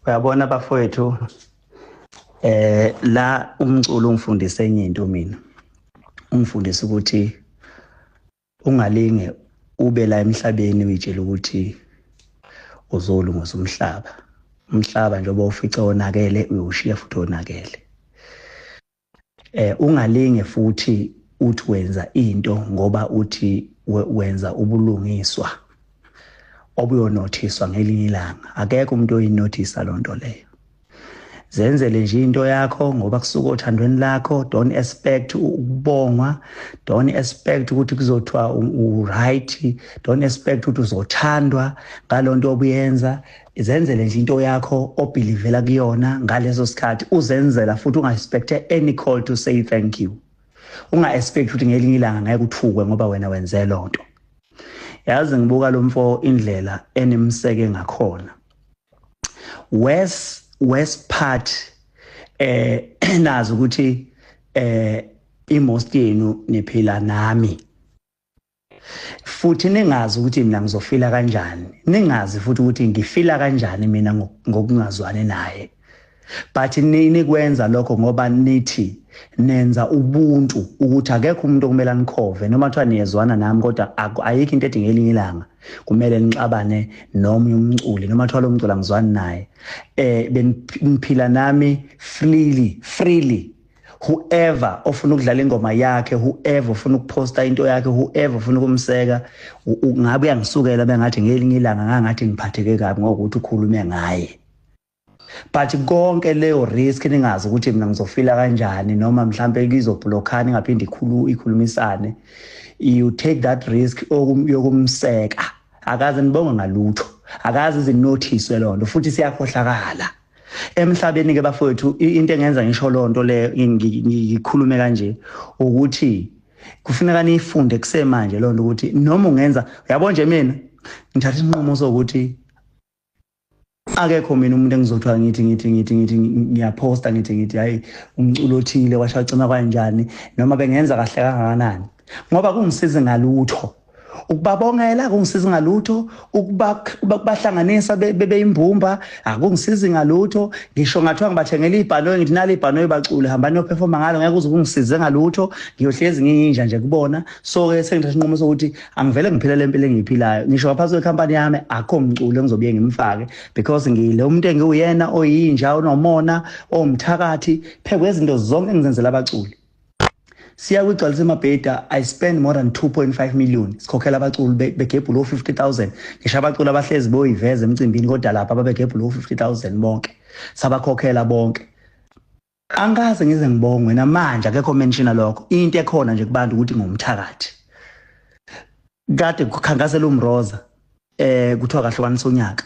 uyabona bafowethu eh la umculo ungifundise enye into mina ungifundise ukuthi ungalinge ube la emhlabeni uyitshela ukuthi uzolungisa umhlaba umhlaba njengoba ufice onakele uyowushiya futhi onakele Eh ungalinge futhi uthi wenza into ngoba uthi wenza ubulungiswa obuyonothiswa ngelinye ilanga akekho umuntu oyinothisa loo nto leyo zenzele nje into yakho ngoba kusuka othandweni lakho don't expect ukubongwa don't expect ukuthi kuzothiwa u-right don't expect ukuthi uzothandwa ngalo nto obuyenza izenzele nje into yakho obhilivela kuyona ngaleso sikhathi uzenzela futhi unga-expecte any call to say thank you unga-expect ukuthi ngelinye ilanga ngeke uthukwe ngoba wena wenze loo nto yazi ngibuka lo mfo indlela enimseke ngakhona west west part eh nazi ukuthi eh imost yenu niphila nami futhi ningazi ukuthi mina ngizofila kanjani ningazi futhi ukuthi ngifila kanjani mina ngokungazwani naye but nini kwenza lokho ngoba nithi nenza ubuntu ukuthi akekho umuntu okumele anikhove noma kuthiwa niyezwana nami kodwa ayikho into edinga elinye ilanga kumele nixabane nomunye umculi noma kuthiwa lo mculi angizwani naye um beniphila nami freely freely whoever ofuna ukudlala ingoma yakhe whoever ofuna ukuposta into yakhe whoever ofuna ukumseka ngabe uyangisukela bengathi ngelinye ilanga ngangathi ngiphatheke kabi ngokuthi ukhulume ngaye but konke leyo risk ningazi ukuthi mina ngizofila kanjani noma mhlambe ngizoblockana ingaphinde ikhulu ikhulumisane you take that risk yokumseka akaze nibonge ngalutho akaze izinothiswe lonto futhi siyakhohlakala emhlabeni ke bafowethu into engenza ngisho lonto le ngikhulume kanje ukuthi kufuneka niyifunde kusemanje lonto ukuthi noma ungenza yabo nje mina ngithatha isinqumo sokuthi akekho mina umuntu engizothiwa ngithi ngithi ngithi ngithi ngiyaphosta ngithi ngithi hayi umculo othile washacima kwanjani noma bengenza kahle kangakanani ngoba kungisizi ngalutho ukubabongela akungisizi ngalutho ukubahlanganisa bebeyimbumba akungisizi ngalutho ngisho ngathiwa ngibathengela ibhanoyi ngithi nali ibhanoyi bacule hambani yophefoma ngalo ngeke uze kungisize ngalutho ngiyohlezi ngiyinja nje kubona so-ke sengithatha inqumo sokuthi angivele ngiphile le mpilo engiyiphilayo ngisho ngaphansi kwekhampani yami akho mculo engizobuye ngimfake because ngile umuntu engiwuyena oyinja onomona owumthakathi phekwezinto zonke engizenzela abaculi siya kwigcwalisa emabheda i spend more than 2.5 million sikhokhela abaculi begebhula o-50000 ngisho abaculi abahlezi boyiveza emcimbini kodwa lapha babegebhula o-50000 bonke sabakhokhela bonke angikaze ngize ngibongwe namanje akekho menshina lokho into ekhona nje kubantu ukuthi ngumthakathi kade kukhankasela umroza eh kuthiwa kahlukanisa unyaka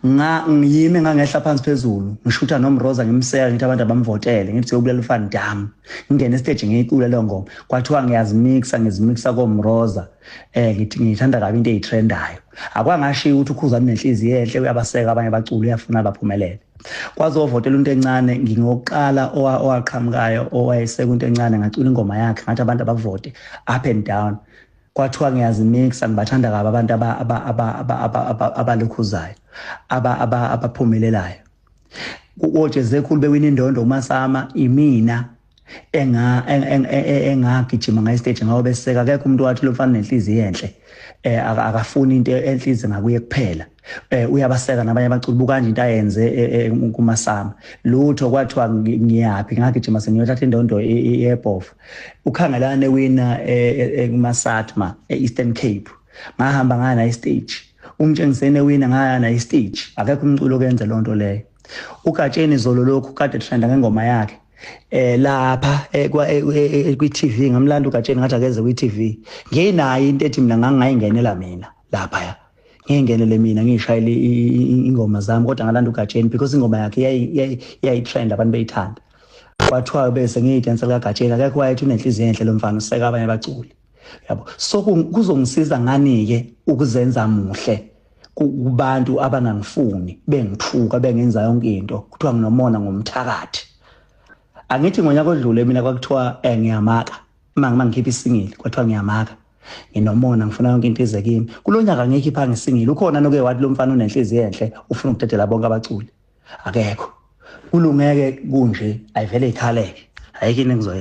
nga ngiyime ngangehla phansi phezulu ngishutha nomroza ngimseka ngithi abantu abamvotele ngithi uyobulela ufan dam ngingena estage ngiyicula leyo ngoma kwathiwa ngiyazimixa ngizimixa komroza eh ngithi ngithanda kabi into eyitrendayo akwangashiya ukuthi ukhuzani nenhliziyo enhle uyabaseka abanye baculi uyafuna baphumelele kwazovotela into encane ngingokuqala owaqhamukayo owayesekunto encane ngacula ingoma yakhe ngathi abantu abavote up and down kwathiwa ngiyazimixa ngibathanda kabi abantu abalukhuzayo abaphumelelayo kojezekhulu bewina indondo umasama imina enga engagijima ngayi stage ngawo beseka akekho umuntu wathi lomfana nenhliziyo enhle eh akafuni into enhliziyo ngakuye kuphela eh uyabaseka nabanye abaculi bukanje into ayenze eh, eh, kumasama lutho kwathiwa ngiyaphi ngagijima sengiyothatha indondo yebhofu ukhangelane wina eh, kumasatma eEastern Cape ngahamba ngaya na stage umtshengisene wina ngaya na stage akekho umculo okenze lonto leyo ugatsheni zolo lokhu kade trenda ngengoma yakhe eh lapha eh, eh, eh, kwi TV ngamlanda ugatsheni ngathi akeze kwi TV nginayo into ethi mina ngangayingenela mina lapha ya ngingenele mina ngishayile ingoma zami kodwa ngalanda uGatsheni because ingoma yakhe yayitrend abantu beyithanda kwathiwa bese ngiyidansa likaGatsheni akekho wayethi unenhliziyo enhle lo mfana useka abanye baculi yabo so kuzongisiza ngani-ke ukuzenza muhle kubantu abangangifuni bengithuka bengenza yonke into kuthiwa nginomona ngomthakathi angithi ngonyaka odlule mina kwakuthiwa um ngiyamaka uma ngikhipha isingile kwathiwa ngiyamaka nginomona ngifuna yonke into ize kimi kulo nyaka ngeke iphange singile ukhona noke wathi lo mfana unenhliziyo enhle ufuna ukudedela bonke abaculi akekho kulungeke kunje ayivele ikhaleke ayikho into engizoyenza